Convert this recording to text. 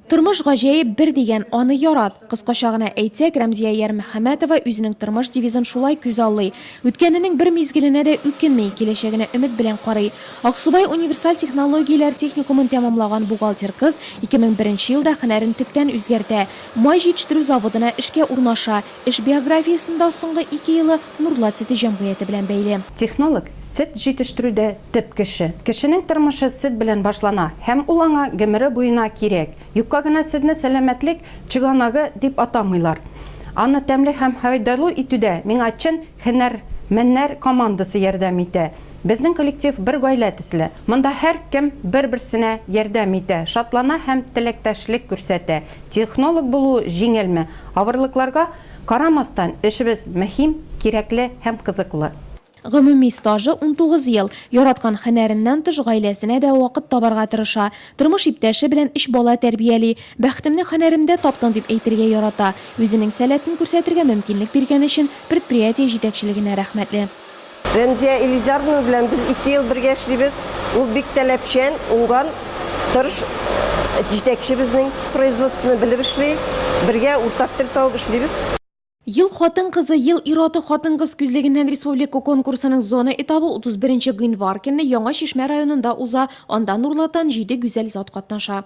Тормыш гаҗәеп бер дигән, аны ярат. Кыскача гына әйтсәк, Рәмзия Ярмөхәмәтова үзенең тормыш девизын шулай күз аллый. Үткәненең бер мизгеленә дә үкенми, киләчәгенә өмет белән карый. Аксубай универсаль технологияләр техникумын тәмамлаган бухгалтер кыз 2001 елда хөнәрен төптән үзгәртә, май җитештерү заводына эшкә урнаша. Эш биографиясендә соңгы ике елы Нурлат сөте җәмгыяте белән бәйле. Технолог сөт җитештерүдә Төп кеше. Кешенең тормышы сез белән башлана һәм ул аңа гомере буена кирәк. Юкка гына сезне сәламәтлек чыганагы дип атамыйлар. Аны тәмле һәм файдалы итүдә миңа чын һөнәрмәннәр командасы ярдәм итә. Безнең коллектив бер гаилә төсле. Монда һәркем бер-берсенә ярдәм итә, шатлана һәм теләктәшлек күрсәтә. Технолог булу җиңелме? Авырлыкларга карамастан, эшебез мөһим, кирәкле һәм кызыклы. Гомуми стажы, унтугыз ел. Яраткан һөнәреннән тыш, гаиләсенә дә вакыт табарга тырыша. Тормыш иптәше белән өч бала тәрбияли. Бәхетемне һөнәремдә таптым, дип әйтергә ярата. Үзенең сәләтен күрсәтергә мөмкинлек биргән өчен предприятие җитәкчелегенә рәхмәтле. Рәмзия Илизаровна белән без ике ел бергә эшлибез. Ул бик таләпчән, уңган, тырыш җитәкче безнең. Производствоны белеп эшли. Бергә уртак тел табып эшлибез. Ел хатын-кызы, ел ир-аты хатын-кыз күзлегеннән республика конкурсының зона этабы 31 гыйнвар көнне Яңа Чишмә районында уза, анда Нурлатан җиде гүзәл зат катнаша.